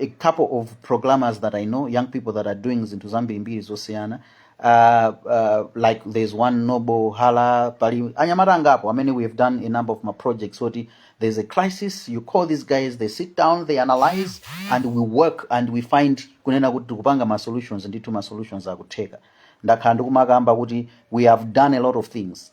a couple of programmers that I know, young people that are doing zinthu zambirimbiri zosiyana uh, uh, like there's one noble hala pali anyamata angapo amene we have done a number of ma projects oti there's a crisis you call these guys they sit down they analyze and we work and we find kunena kuti tikupanga ma solutions ndithu ma solutions akutheka ndakhala ndikumakamba kuti we have done a lot of things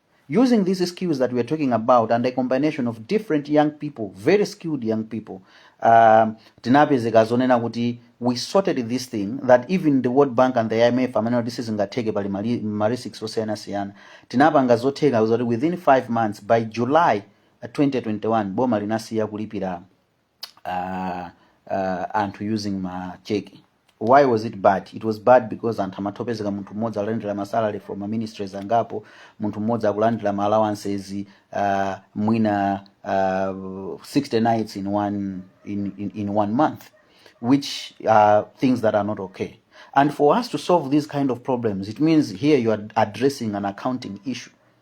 Using these skills that we are talking about and a combination of different young people, very skilled young people, um, tinapezeka zonena kuti we sorted this thing that even the World Bank and the IMF amanena kuti sizingatheke pali mali- ma risks osiyanasiyana tinapanga zotheka zoti within 5 months by July uh, 2021 boma linasiya kulipira uh, uh, anthu using ma check why was it bad it was bad because anthu amatopezeka munthu mmodzi akulandira ma salary from ma ministries angapo munthu mmodzi akulandira ma allowances uh, mwina uh, 60 nights in one in, in, in one month which are things that are not okay and for us to solve these kind of problems it means here you are addressing an accounting issue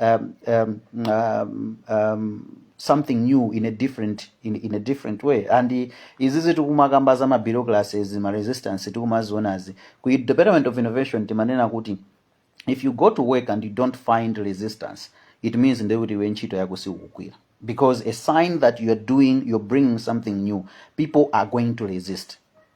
um, um, um, um, something new in a different in, in a different way and i- izizi tikumakamba za mabureaucracies maresistance tikumazionazi ku department of innovation timanena kuti if you go to work and you don't find resistance it means nde kuti iwe ntchito yako siukugwira because a sign that you are doing you're bringing something new people are going to resist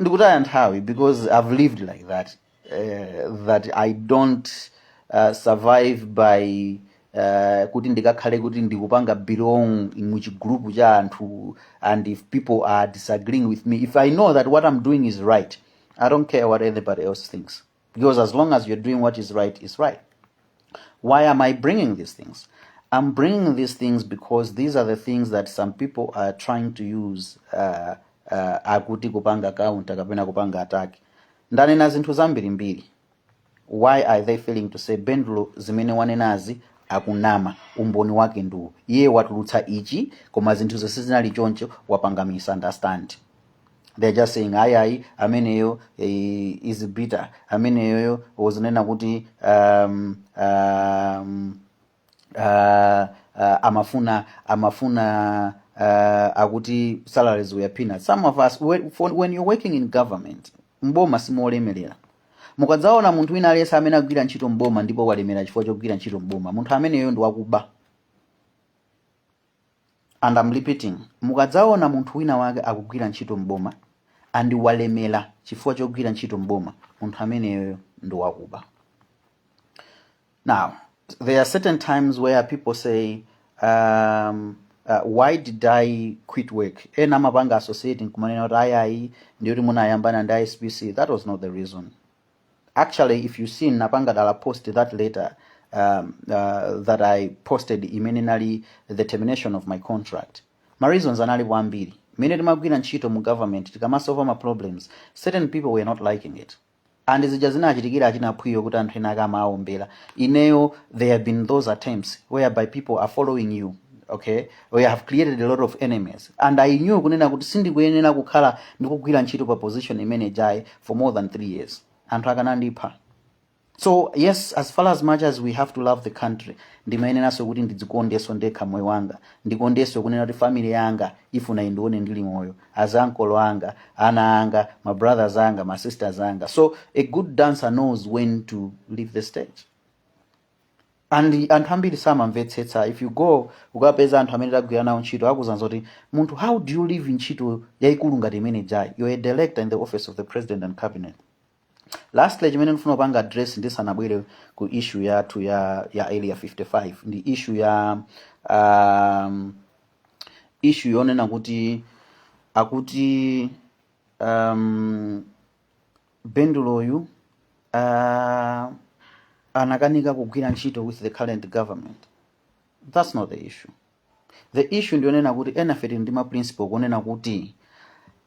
ndikutaya nthawi because i've lived like that uh, that i don't uh, survive by uh, kuti ndikakhale kuti ndizipanga belong muchigulupu cha anthu and if people are disagreeing with me if i know that what i'm doing is right i don't care what anybody else thinks Because as long as you're doing what is right, is right. Why am I bringing these things? I'm bringing these things because these are the things that some people are trying to use uh, uh, akuti kupanga counter kapena kupanga attack. Ndanena zinthu zambirimbiri. Why are they failing to say Bendulo zimene wanenazi ukunama umboni wake ndi uwu iye watulutsa ichi koma zinthu zonse zinali choncho wapanga misunderstand they're just saying ayi ayi ameneyo eh, is bitter ameneyoyo uzinena kuti um, um, uh, uh, amafuna amafuna uh, akuti salaries were peanuts some of us we- for- when you're working in government mboma simolemerera mukadzaona munthu wina aliyense amene akugwira ntchito mboma ndipo walemera chifukwa chogwira ntchito mboma munthu ameneyo ndi wakuba and am repeating mukadzaona munthu wina wake akugwira ntchito m'boma and walemera chifukwa chogwira ntchito m'boma munthu ameneyoyo ndi wakuba now there are certain times where people say um, uh, why did i quit work ena amapanga associating kumanena kuti ayayi ndiye kuti munayambana ndi SPC that was not the reason actually if you see ndinapanga dala post that letter um, uh, that i posted imene inali the termination of my contract ma reasons analipo ambiri mmene timagwirira ntchito mu government tikamasolva ma problems certain people were not liking it and zija zinachitikira achina phwiyo kuti anthu ena akamaombera ineyo there have been those attempts whereby people are following you okay we have created a lot of enemies and i knew kunena kuti sindikuyenera kukhala ndikugwira ntchito pa position imene ija for more than three years anthu akanandipha so yes as far as much as we have to love the country ndimayeneranso kuti ndidzikondenso ndekha moyo wanga ndikondenso kunena kuti family yanga ifuna indione ndili moyo as makolo anga ana anga ma brothers anga ma sisters anga so a good dancer knows when to leave the stage and anthu ambiri samamvetsetsa if you go ukapeza anthu amene tagwira nawo ntchito akuuzani zoti munthu how do you leave ntchito yayikulu ngati imene ija you're a director in the office of the president and cabinet lastly chimene ndifuna kupanga address ndisanabwere ku issue yathu ya ya area 55 ndi issue ya um, issue yonena kuti akuti um, benduloyu uh, anakanika kugwira ntchito with the current government that's not the issue the issue ndi yonena kuti enafe tili ndi ma principle kunena kuti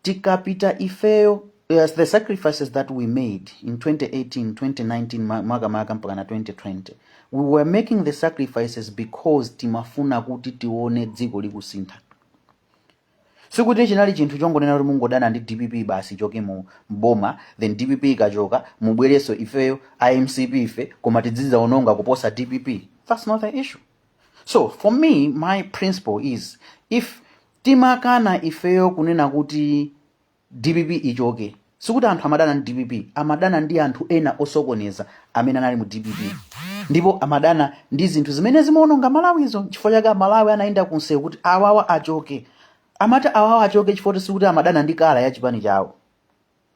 tikapita ifeyo yes, the sacrifices that we made in 2018 2019 ma- makamaka mpaka na 2020 we were making the sacrifices because timafuna kuti tione dziko likusintha Sikuti chinali chinthu chongonena kuti mungodana ndi dpp basi ichoke mu m'boma then dpp ikachoka mubwerenso ifeyo a mcp fe koma tizidzaononga kuposa dpp. Thats not the issue. So for me my principle is if timakana ifeyo kunena kuti. Dpp ichoke. Sikuti anthu amadana ndi dpp, amadana ndi anthu ena osokoneza amene anali mu dpp ndipo amadana ndi zinthu zimene zimaononga Malawizo. N'chifukwa chake Amalawi anayenda kunsewu kuti awawa achoke. Amati awawa achoke chifukwa kuti sikuti amadana ndi kala ya chipani chawo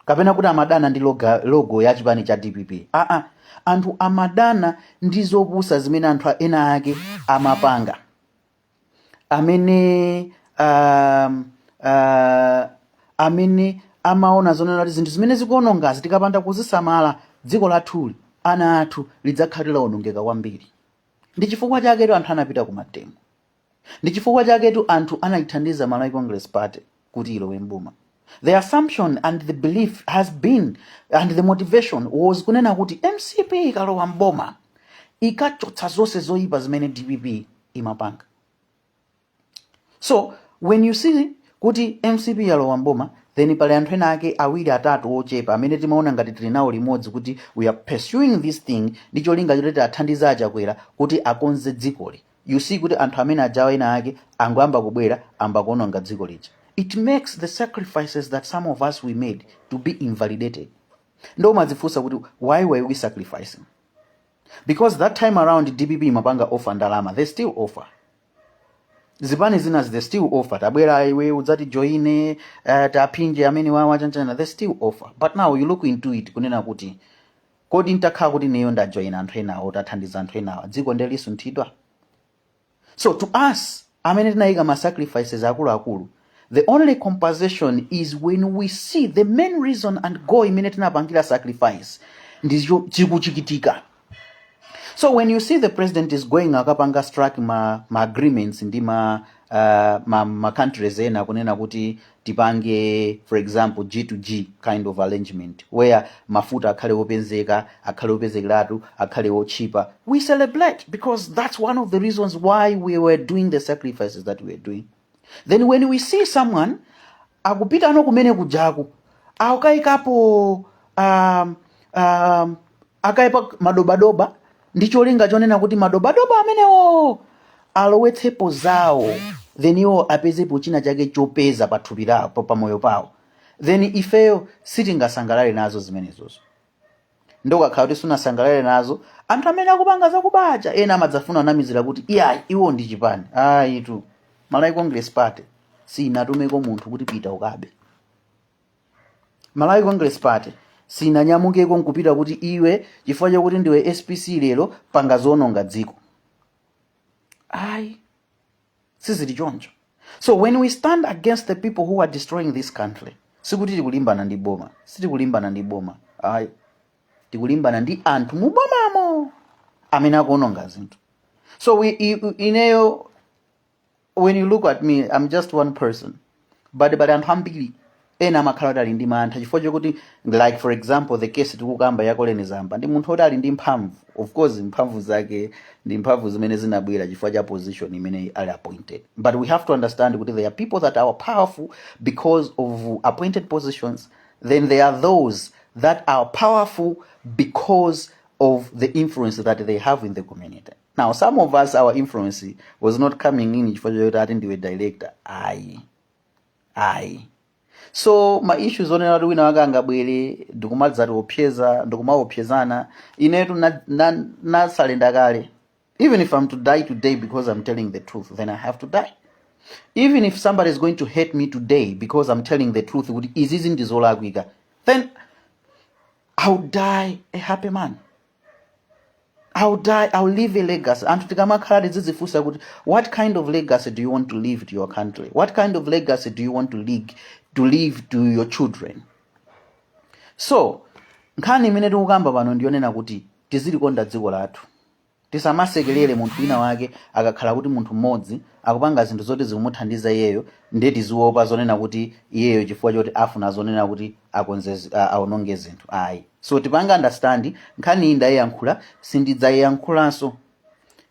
kapena kuti amadana ndi loga, logo ya chipani cha dpp aa anthu amadana ndi zopusa zimene anthu ena ake amapanga amene um, uh, amene amaona zonena kuti zinthu zimene zikuonongazi tikapanda kuzisamala dziko lathuli ana athu lidzakhala lawonongeka kwambiri ndi chifukwa chaketu anthu anapita ku mademo ndi chifukwa chaketu anthu anayithandiza malawi congress party kuti ilowe m'boma. The assumption and the belief has been and the motivation was kunena kuti mcp ikalowa m'boma ikachotsa zonse zoyipa zimene dpp imapanga. So when you see kuti mcp yalowa m'boma then pali anthu ena ake awiri atatu ochepa amene timaona ngati tili nawo limodzi kuti we are pursuing this thing ndi cholinga choti tiathandize a Chakwera kuti akonze dzikoli you see kuti anthu amene ajawa ena ake angoyamba kubwera ayamba kuononga dziko lija it makes the sacrifices that some of us we made to be invalidated nde umadzifunsa kuti why were we sacrificing because that time around dpp imapanga offer ndalama they still offer zipani zinazi they still offer tabwera iwe udzati joine uh, taphinje amene awawa chanichani they still offer but now you look into it kunena kuti Kodi ntakhala kuti ineyo ndajoina anthu enawo tathandiza anthu enawa dziko nde lisunthidwa? So to us amene tinaika ma sacrifices akuluakulu the only compensation is when we see the main reason and goal imene tinapangira sacrifice ndicho chikuchitika. So when you see the president is going akapanga strike ma, ma agreements ndi ma, uh, ma, ma countries ena kunena kuti tipange for example G to G kind of arrangement where mafuta akhale openzeka akhale opezekeratu akhale otchipa we celebrate because that's one of the reasons why we were doing the sacrifices that we were doing then when we see someone akupita ano kumene kujaku akayikapo um, um, akayepa madobadoba ndi cholinga chonena kuti madobadoba amenewo alowetsepo zawo then iwo apezepo china chake chopeza pa thupi lawo pa pa moyo pawo then ifeyo sitingasangalale nazo zimenezozo nde ukakhala kuti sunasangalale nazo anthu amene akupanga zakubazo ena amadzafuna kunamizira kuti iyayi iwo ndi chipani ayitu malawi congress party sinatumeko munthu kuti pita ukabe malawi congress party sinanyamukeko nkupita kuti iwe chifukwa chakuti ndiwe spc lero panga zoononga dziko ayi sizili choncho so when we stand against the people who are destroying this country sikuti tikulimbana ndi boma sitikulimbana ndi boma ayi tikulimbana ndi anthu mu bomamo amene akuononga zinthu so we, i, ineyo when you look at me i'm just one person but pali anthu ambiri ena amakhala kuti ali ndi mantha chifukwa chokuti like for example the case tikukamba ya Colleen Zamba ndi munthu oti ali ndi mphamvu of course mphamvu zake ndi mphamvu zimene zinabwera chifukwa cha position imene ali appointed but we have to understand kuti there are people that are powerful because of appointed positions then there are those that are powerful because of the influence that they have in the community now some of us our influence was not coming in chifukwa choti ati ndiwe director ayi ayi so ma issues onena kuti wina wake angabwere ndikumadzati opseza ndikumaopsezana inetu na- na- nasalenda kale even if i'm to die today because i'm telling the truth then i have to die even if somebody is going to hate me today because i'm telling the truth kuti izizi ndizolakwika then i'll die a happy man I'll die, I'll leave a legacy. Anthu tikamakhala tizidzifunsa kuti what kind of legacy do you want to leave to your country? What kind of legacy do you want to leave to leave to your children? So, nkhani imene tikukamba pano ndiyonena kuti tizilikonda dziko lathu. Tisamasekelere munthu wina wake akakhala kuti munthu mmodzi akupanga zinthu zoti zikumuthandiza iyeyo ndiye tiziopa zonena kuti iyeyo chifukwa choti afuna zonena kuti akonze zi- a- aononge zinthu. Ayi. So tipanga understand nkhaniyi ndayiyankhula sindidzayiyankhulanso.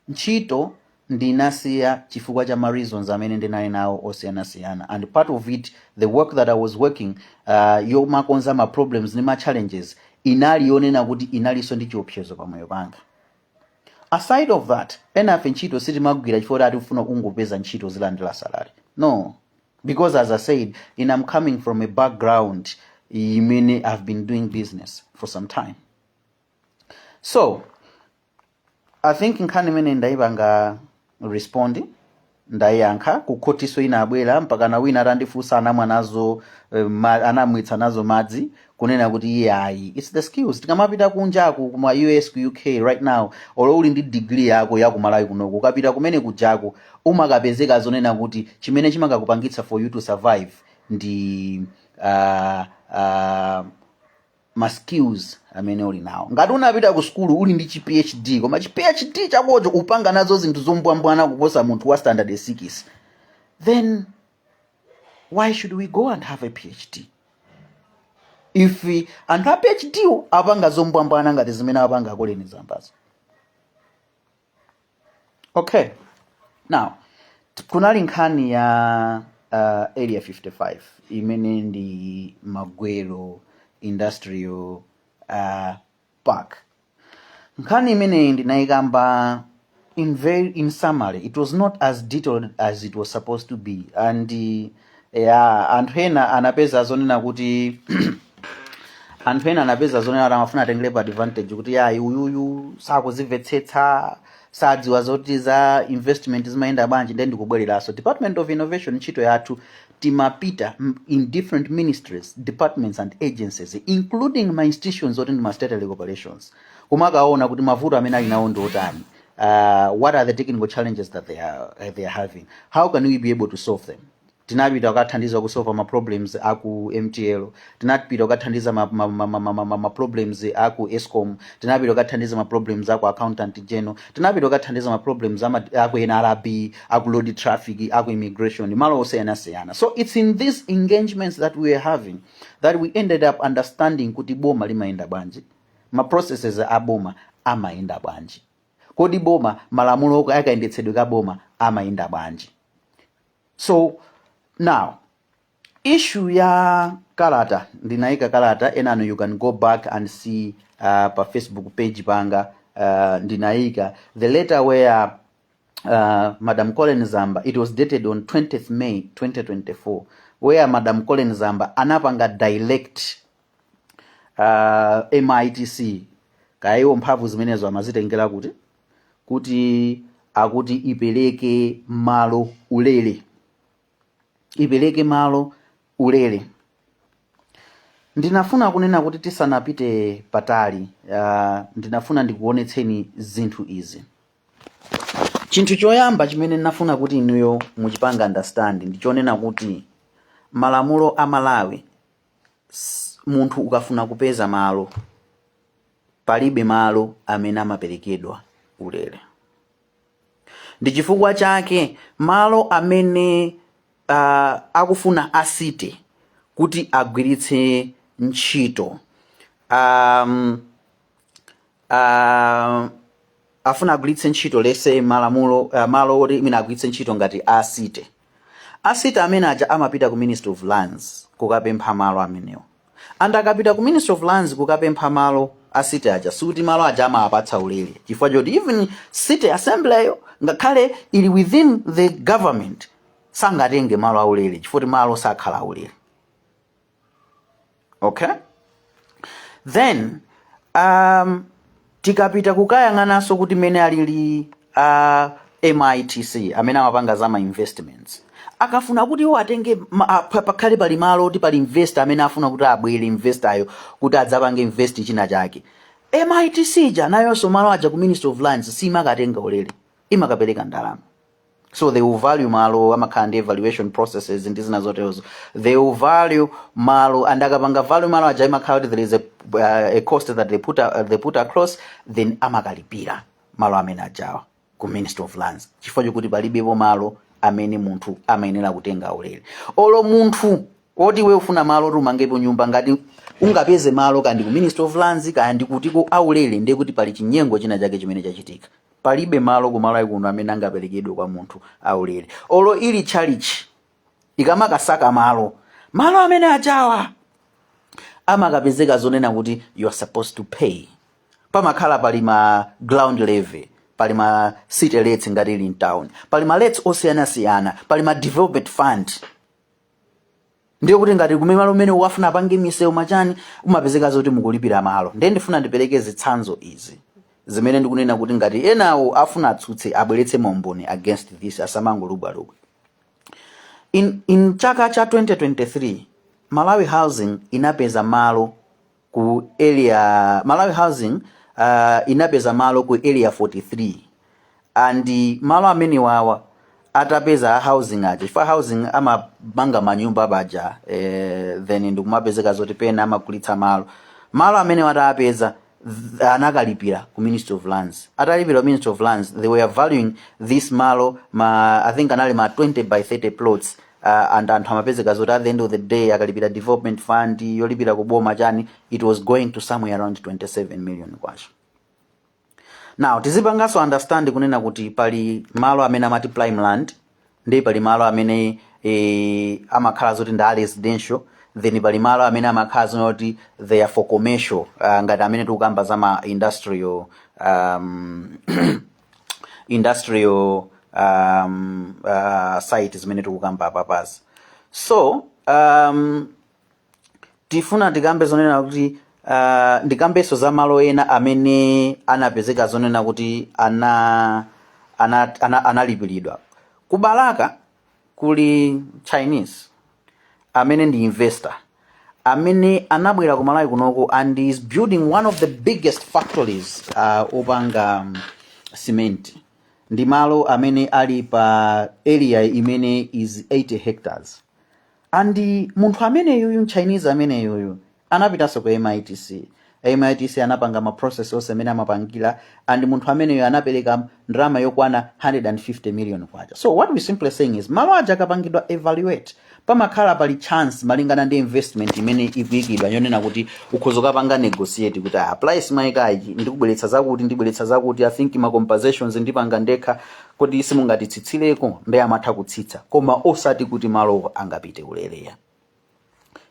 Ntchito ndinasiya chifukwa cha ma reasons amene ndinali nawo osiyanasiyana and part of it the work that I was working uh, yomakonza ma problems ndi ma challenges inali yonena kuti inalinso ndi chiopsezo pa moyo panga. Aside of that, enafe ntchito sitimagwira chifukwa choti tikufuna kungopeza ntchito tizilandira salary. No. because as i said in i am coming from a background imene i've been doing business for some time so i think nkhani imene ndaipanga respond ndayankha kukhotiko inabwera mpakana wina atandifunsa anamwa nazo eh, anamwetsa nazo madzi kunena kuti iye ayi its the skills tikamapita kunjaku kuma us ku uk right now olo uli ndi degree yako ya kumalawi kunoko ukapita kumene kunjaku umakapezeka zonena kuti chimene chimakakupangitsa for you to survive ndi uh, uh, ma skills amene uli nawo ngati unapita ku sukulu uli ndi chi phd koma chi phd chakocho ukupanga nazo zinthu zombwambwana kuposa munthu wa standard 6 then why should we go and have a phd if anthu a phd wo akupanga zombwambwana ngati zimene apanga a colleen zambazo okay now t- kunali nkhani ya uh, area 55 imene ndi magwero industrial uh, park nkhani imeneyi ndinaikamba in very in summary it was not as detailed as it was supposed to be and uh, yeah, anthu ena anapeza zonena kuti anthu ena anapeza zonena kuti amafuna atengerepo advantage kuti yayi uyuyu sakuzimvetsetsa sakudziwa zoti za investment zimayenda bwanji ndiye ndikubwerezanso department of innovation ntchito yathu timapita in different ministries departments and agencies including ma institutions oti ndi ma statutory corporations kumakaona kuti mavuto amene ali nawo ndi otani uh, what are the technical challenges that they are, uh, they are having how can we be able to solve them tinapita kukathandiza kusolva ma problems aku mtl tinapita kukathandiza ma, ma, ma, ma, ma, ma, ma ma problems a ku escom tinapita kukathandiza ma problems a ku accountant general tinapita kukathandiza ma problems ama- a ku nrb a ku road traffic a ku immigration malo osiyanasiyana so it's in these engagements that we were having that we ended up understanding kuti boma limayenda bwanji ma processes a boma amayenda bwanji kodi boma malamulo a kayendetsedwe ka boma amayenda bwanji so now Issue ya kalata ndinaika kalata enanu you can go back and see uh, pa facebook page panga uh, ndinaika the letter where uh, madam colleen zamba it was dated on 20th may 2024 where madam colleen zamba anapanga direct uh, mitc kaya iwo mphamvu zimenezo amazitengera kuti kuti a kuti ipereke malo ulere ipereke malo ulere ndinafuna kunena kuti tisanapite patali uh, ndinafuna ndikuonetseni zinthu izi chinthu choyamba chimene ndinafuna kuti inuyo muchipanga understand ndichonena kuti malamulo a malawi s- munthu ukafuna kupeza malo palibe malo amene amaperekedwa ulere Ndi chifukwa chake malo amene a, akufuna a City kuti agwiritse ntchito a, a, afuna agwiritse ntchito malamulo a, malo oti amene agwiritse ntchito ngati a City. A city amene aja amapita ku ministry of lands kukapempha malo amenewa and akapita ku ministry of lands kukapempha malo a city aja sikuti malo aja amawapatsa ulele chifukwa choti even city assembly yo ngakhale ili within the government sangatenge malo aulele chifukwa kuti malo sakhala aulele okay then um, tikapita kukayang'ananso kuti mmene alili a mitc amene amapanga za ma investments akafuna kuti iwo atenge ma- a- pa- pakhale pali malo oti pali investor amene afuna kuti abwere investoryo kuti adzapange invest china chake mitc ija nayonso malo aja ku ministry of lands siimakatenga ulere imakapereka ndalama so they will value malo amakhala ndi evaluation processes ndi zina zoterozo they will value malo and akapanga value malo aja imakhala kuti there is a, uh, a cost that they put, uh, they put across then amakalipira malo amene ajawa ku ministry of lands chifukwa chokuti palibepo malo amene munthu amayenera kutenga ulere olo munthu woti iwe ufuna malo kuti umangepo nyumba ngati ungapeze malo kaya ndi ku ministry of lands kaya ndi kutiko aulere ndiye kuti pali chinyengo china chake chimene chachitika palibe malo kumalawi kuno amene angaperekedwe kwa munthu aulere olo ili tchalitchi ikamasakasaka malo malo amene ajawa amakapezeka zonena kuti you are supposed to pay pamakhala pali ma ground levy pali ma city rates ngati ili mtown pali ma rates osiyanasiyana pali ma development fund ndiye kuti ngati kumene malo amene ukuwafuna apange misewu machani umapezeka zoti mukulipira malo ndiye ndifuna ndipereke zitsanzo izi zimene ndikunena kuti ngati enawo afuna atsutse abweretse maumboni against this asamangolubwalubwa in, in chaka cha 2023 malawi housing inapeza malo ku area malawi housing uh, inapeza malo ku area 43 and malo amenewawa atapeza a housing aja chifukwa housing amamanga manyumba paja eh, then ndikumapezeka zoti pena amagulitsa malo malo amenewa atapeza th- anakalipira ku ministry of lands atalipira ku ministry of lands they were valuing this malo ma i think anali ma 20 by 30 plots uh, anthu amapezeka zoti at the end of the day akalipira development fund yolipira ku boma chani it was going to somewhere around 27 million kwacha now tizipanganso understand kunena kuti pali malo amene amati prime land and pali malo amene eh, amakhala zoti ndi a residential then pali malo amene amakhala zoti they are for commercial uh, ngati amene tikukamba za ma industrial um, industrial um, uh, site zimene tikukamba apapa so um, tifuna tikambe zonena kuti uh, ndikambenso za malo ena amene anapezeka zonena kuti ana ana- ana- analipiridwa ku Balaka kuli chinese amene ndi investor amene anabwera ku Malawi kunoko and is building one of the biggest factories uh, opanga um, cement ndi malo amene ali pa area imene is 80 hectares and munthu ameneyuyu mchinese ameneyuyu Anapitanso ku MITC. MITC anapanga ma process onse amene amapangira and munthu ameneyo anapereka ndalama yokwana 150 million kwacha. So what we're simply saying is malo aja akapangidwa evaluate pamakhala pali chance malingana ndi investment imene ikuikidwa yonena kuti ukhoza kukapanga negotiate kuti ah price mwaikayi ndikubweretsa zakuti ndibweretsa zakuti I think ma compensations ndipanga ndekha kodi simungatitsitsireko ndi amatha kutsitsa koma osati kuti malowo angopita ulere.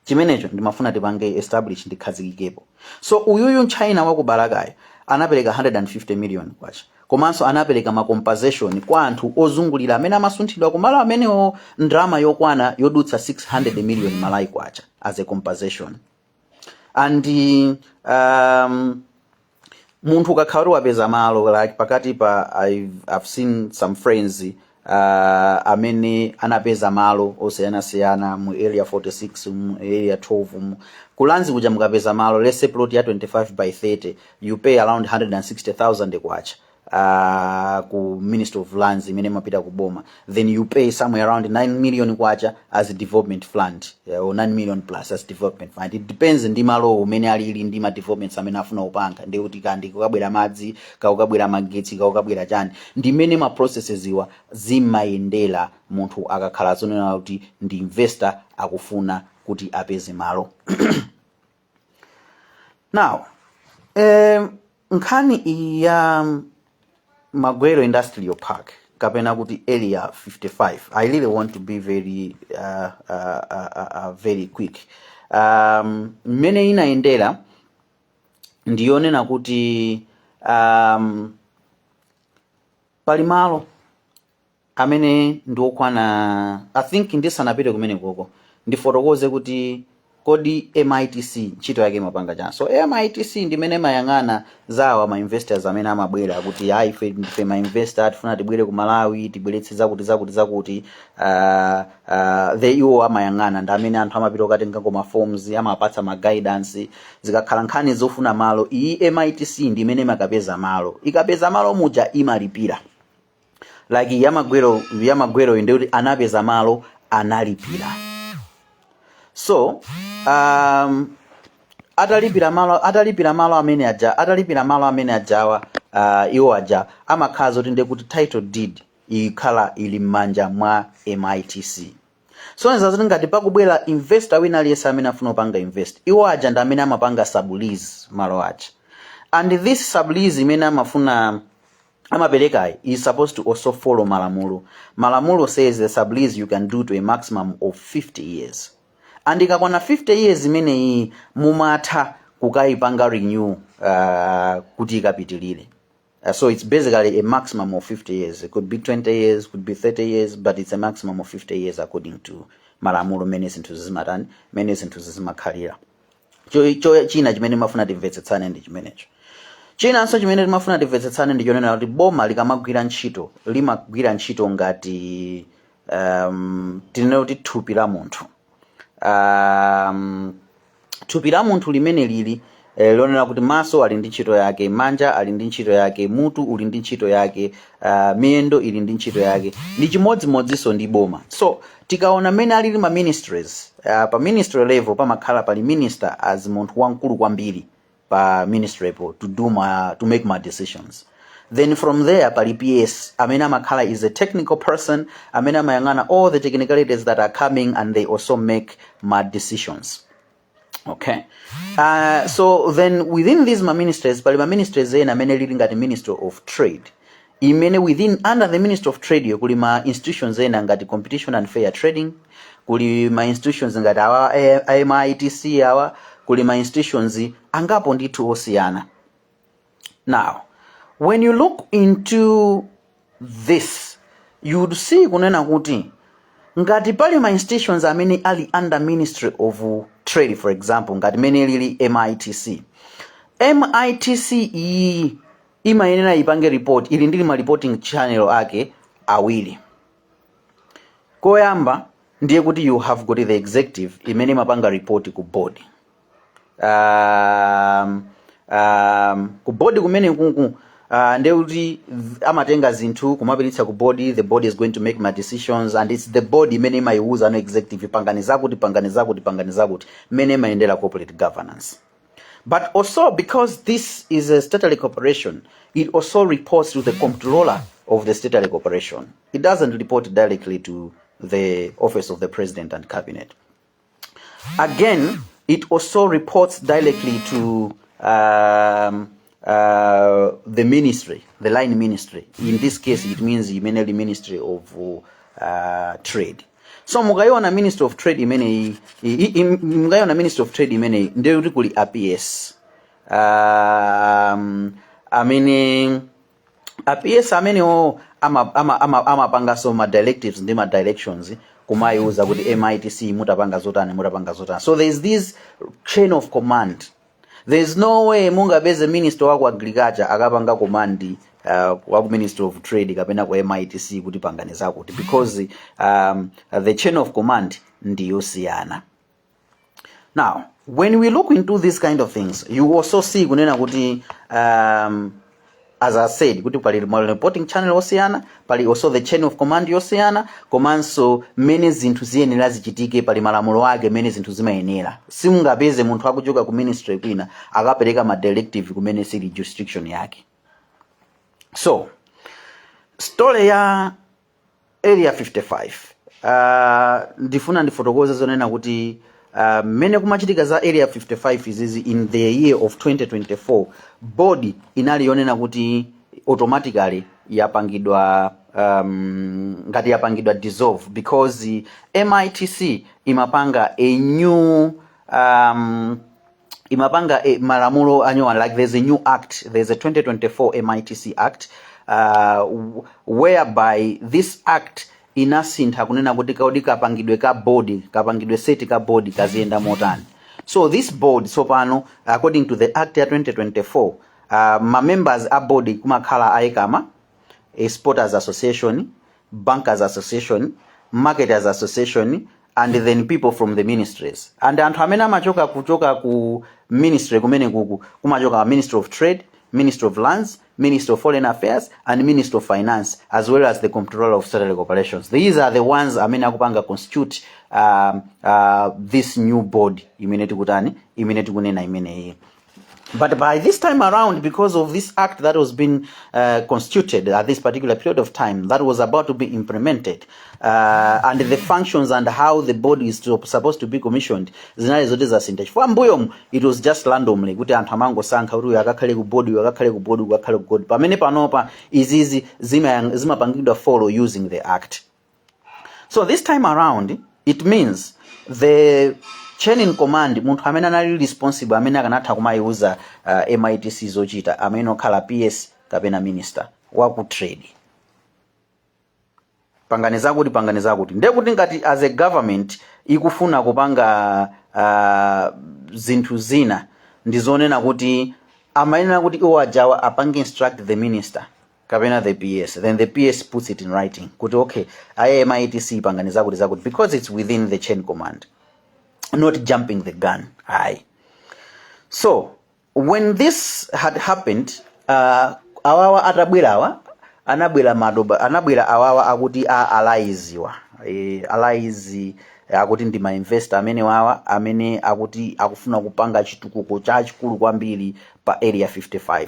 chimenecho ndimafuna tipange establish ndi chikhazikikepo so uyuyu mchina wa ku Balakayo anapereka 150 million kwacha komanso anapereka ma compensation kwa anthu ozungulira amene amasunthidwa kumalo amenewo ndrama yokwana yodutsa 600 million Malawi kwacha as a compensation and um, munthu ukakhala kuti wapeza malo like pakati pa I've, I've seen some friends uh, amene anapeza malo osiyanasiyana mu area 46 mu area 12 mu ku Lands kuja mukapeza malo let's say plot ya 25 by 30 you pay around 160000 kwacha uh, ku ministry of lands imene imapita ku boma then you pay somewhere around 9 million kwacha as a development fund yeah, or 9 million plus as development fund it depends ndi malo umene alili ndi ma developments amene akufuna kupanga ndi kuti kodi kukabwera madzi kaya kukabwera magetsi kaya kukabwera chani ndi mmene ma processes wa zimayendera munthu akakhala zonena kuti ndi investor akufuna kuti apeze malo now eh, nkhani iyi ya um, Magwero Industrial Park kapena kuti area 55 i really want to be very uh, uh, uh, uh, uh, very quick um, mmene inayendera ndi yonena kuti um, pali malo amene ndi okwana i think ndisanapite kumenekoko ndifotokoze kuti kodi mitc ntchito yake imapanga chani so mitc ndimene imayang'ana za awa ma investors amene amabwera kuti ayi ife ndi ma investor tifuna tibwere ku malawi tibweretse zakuti zakuti zakuti uh, uh, the iwo amayang'ana ndi amene anthu amapita kukatengako ma forms amapatsa ma guidance zikakhala nkhani zofuna malo iyi mitc ndimene imakapeza malo ikapeza malo muja imalipira lease yamagwero yamagwero ndiye kuti anapeza malo analipira so um, atalipira malo atalipira malo amene ajawa atalipira malo amene ajawa uh, iwo aja amakhala zoti ndiye kuti title deed ikhala ili m'manja mwa mitc kusonyeza kuti ngati pakubwera investor wina aliyense amene afuna kupanga invest iwo aja ndi amene amapanga sublease malo aja and this sublease imene amafuna amaperekayi is supposed to also follow malamulo malamulo says the sublease you can do to a maximum of 50 years and ikakwana 50 years imeneyi mumatha kukayipanga renew uh, kuti ikapitilire Uh, so it's basically a maximum of 50 years it could be 20 years could be 30 years but it's a maximum of 50 years according to malamulo mmene zinthu zimatani mmene zinthu zimakhalira Cho- cho- china chimene timafuna timvetsetsane ndi chimenecho chinanso chimene timafuna timvetsetsane ndi chonena kuti boma likamagwira ntchito limagwira ntchito ngati um, tinene kuti thupi la munthu um, thupi la munthu mmene lilili eh, lonena kuti maso ali ndi ntchito yake manja ali ndi ntchito yake mutu uli ndi ntchito yake uh, miyendo ili ndi ntchito yake ndi chimodzimodzinso ndi boma so tikaona mmene alili ma ministries uh, pa ministry level pamakhala pali minister as munthu wamkulu kwambiri pa ministry po to do ma, to make ma decisions then from there pali ps amene amakhala is a technical person amene amayang'ana all the technicalities that are coming and they also make ma decisions okay uh, so then within these ma ministries pali ma ministries ena mmene ilili ngati ministry of trade imene within under the ministry of trade yo kuli ma institutions ena ngati competition and fair trading kuli ma institutions ngati awa eh, A- a mitc awa kuli ma institutions angapo ndithu osiyana now when you look into this you would see kunena kuti ngati pali ma institutions amene ali under ministry of trade for example ngati mmene ilili mitc mitc iyi imayenera ipange report ili ndi ma reporting channel ake awiri koyamba ndiye kuti you have got the executive imene imapanga report ku board um, um, ku board kumene kuku uh, nde kuti amatenga zinthu kumapititsa ku board the board is going to make ma decisions and it's the board imene imayiwuza ma executive pangani zakuti pangani zakuti pangani zakuti mmene imayendera corporate governance but also because this is a statutory corporation it also reports to the comptroller of the statutory corporation it doesn't report directly to the office of the president and cabinet Again, it also reports directly to um, uh, the ministry, the line ministry. In this case, it means mainly Ministry of uh, Trade. So mukaiona Ministry of Trade imeneyi, i- i- mukaiona Ministry of Trade imeneyi ndiyo kuti kuli APS um, amene a PS amenewo amapangaso ama, ama, ama amapangaso ma directives ndi ma directions kumayiuza kuti mitc mutapanga zotani mutapanga zotani so there is this chain of command there is no way mungapeze minister wa ku agriculture akapanga command uh, wa ku ministry of trade kapena ku mitc kuti pangani zakuti because um, the chain of command ndiyosiyana now when we look into this kind of things you also see kunena kuti um, as i said kuti pali ma reporting channel osiyana pali also the chain of command yosiyana komanso mmene zinthu ziyenera zichitike pali malamulo ake mmene zinthu zimayenera simungapeze munthu akuchoka ku ministry kwina akapereka ma directive kumene sili jurisdiction yake so story ya area 55 uh, ndifuna ndifotokoze zonena kuti uh, mmene kumachitika za area 55 izizi in the year of 2024 board inali yonena kuti automatically yapangidwa um, ngati yapangidwa dissolve because mitc imapanga a new um, imapanga eh, malamulo anyowani like there's a new act there's a 2024 mitc act uh, w- whereby this act inasintha kunena kuti kaudi kapangidwe ka board kapangidwe seti ka board kaziyenda motani so this board tsopano according to the act ya 2024 uh, ma members a board kumakhala aikama a exporters association bankers association marketers association and then people from the ministries and anthu amene amachoka kuchoka ku ministry kumene kuku kumachoka ministry of trade ministry of lands ministry of foreign affairs and ministry of finance as well as the comptroller of statutory corporations these are the ones amene akupanga constitute um, uh, this new board imene tikutani imene tikunena imeneyi But by this time around, because of this act that was being uh, constituted at this particular period of time, that was about to be implemented, uh, and the functions and how the board is to, supposed to be commissioned, zinali zoti zasintha. Chifukwa mbuyomu, it was just randomly kuti anthu amangosankha kuti uyu akakhale ku board, uyu akakhale ku board, uyu akakhale ku board. Pamene panopa izizi zima- zimapangidwa follow using the act. so this time around it means the chain in command munthu amene anali responsible amene akanatha kumayiuza uh, mitc zochita amenewo okhala ps kapena minister waku trade pangani zakuti pangani zakuti ndiye kuti ngati as a government ikufuna kupanga uh, zinthu zina ndi zonena kuti amayenera kuti iwo ajawa apange instruct the minister kapena the PS then the PS puts it in writing kuti okay MITC pangani zakuti zakuti because it's within the chain command not jumping the gun ayi so when this had happened uh, awawa atabwerawa anabwera madoba anabwera awawa akuti a alaiziwa e, alaizi akuti ndi mainvestor amene wawa amene akuti akufuna kupanga chitukuko chachikulu kwambiri pa area 55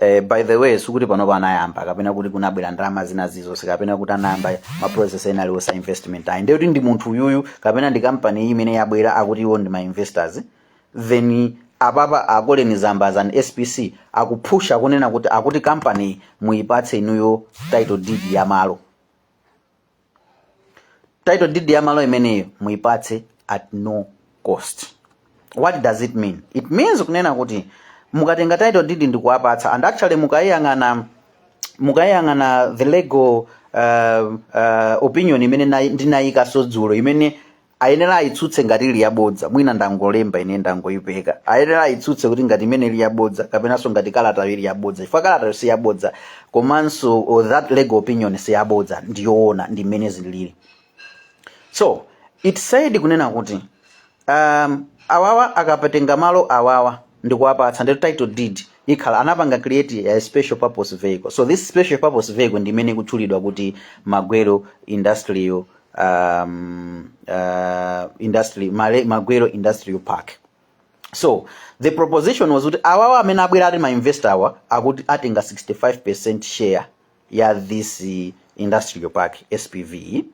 Eh, by the way sikuti panopo ayamba kapena kuti kunabwera ndalama zina zizonse kapena kuti anayamba ma process ena aliwonse a investment ayi ndekuti ndi munthu uyuyu kapena ndi kampani iyi imene yabwera akuti iwo ndi ma investors then apapa a Colleen Zamba as an spc akupusha kunena kuti akuti kampaniyi muyipatse inuyo title deed ya malo title deed ya malo imeneyo muipatse at no cost what does it mean it means kunena kuti mukatenga title deed ndikuwapatsa and actually mukayiyang'ana mukayiyang'ana the legal uh, uh, opinion imene nayi- ndinayikaso dzulo imene ayenera ayitsutse ngati ili yabodza mwina ndangolemba ine ndangoyipeka ayenera ayitsutse kuti ngati imene ili yabodza kapenanso ngati kalatayo ili yabodza chifukwa kalatayo si yabodza komanso oh, that legal opinion si yabodza ndi yoona ndi mmene zilili so it said kunena kuti um, awawa akapatenga malo awawa ndikuwapatsa ndi title deed ikhala atapanga create a special purpose vehicle so this special purpose vehicle ndi imene ikutchulidwa kuti magwero industrial um, uh, industry Male- magwero industrial park so the proposition was kuti awawa amene abwera ati mainvestor awa akuti atenga 65 percent share ya this eh, industrial park spv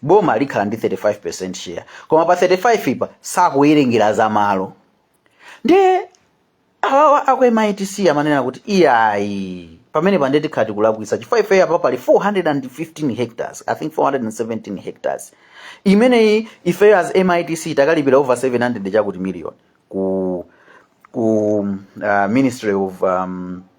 boma likhala ndi 35 percent share koma pa 35 ipa sakuwerengera za malo ndiye awawa aku mitc amanena kuti iyayi pamenepa ndiye tikhala tikulakwitsa chifukwa ifeyo apa pali 415 hectares i think 417 hectares imeneyi ifeyo as mitc takalipira over 700 chakuti million ku ku uh, ministry of um,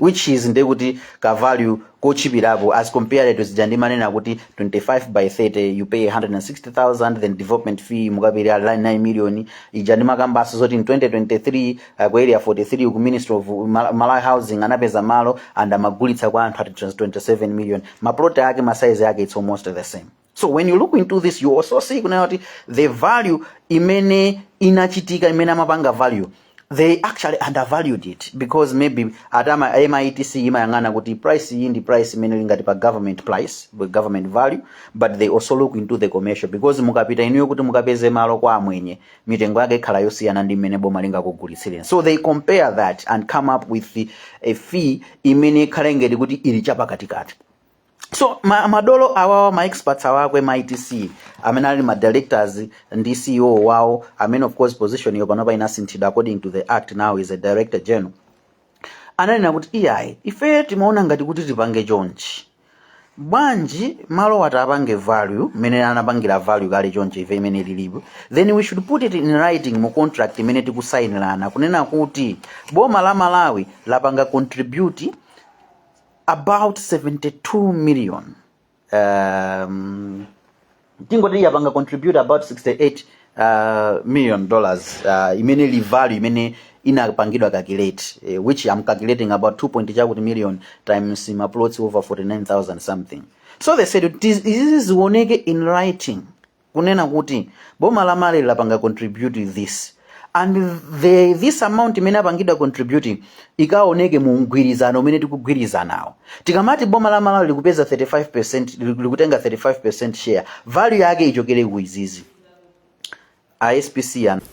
which is ndi kuti ka value kotchipirapo as compared to zija ndimanena kuti 25 by 30 you pay 160000 then development fee mukapereka 9 million ija ndimakambaso zoti in 2023 uh, ku area 43 ku ministry of Mal- malawi housing anapeza malo and amagulitsa kwa anthu at 27 million ma plot ake masaizi ake it's almost the same so when you look into this you also see kunena kuti the value imene inachitika imene amapanga value they actually undervalued it because maybe at a MITC imayang'ana kuti price iyi ndi price imene lingati pa government price pa government value but they also look into the commercial because mukapita inuyo kuti mukapeze malo kwa amwenye mitengo yake ikhala yosiyana ndi mmene boma lingakugulitsireni so they compare that and come up with a fee imene ikhala ngati kuti ili chapakatikati so ma, madolo awawa ma experts awa a kwa MITC amene ali ma directors ndi ceo wawo amene of course position iyo panopa inasinthidwa according to the act now is a director general ananena kuti iyayi ife timaona ngati kuti tipange chonchi bwanji malowa tipange value imene anapangira value kale chonchi fee imene ilipo then we should put it in writing mu contract imene tikusayinirana kunena kuti boma la malawi lapanga contribute about 72 million um, tingoti yapanga contribute about 68 uh, million dollars uh, imene li value imene inapangidwa calculate eh, which I'm calculating about 2 point chakuti million times ma plots over 49000 something so they said "Tis- izizi zioneke in writing kunena kuti boma la Malawi likupanga contribute this and this amount imene apangidwa contribute ikaoneke mu mgwirizano umene tikugwirizanawo tikamati boma la Malawi likupeza 35% liku- likutenga 35% share value yake ichokere ku izizi a SPC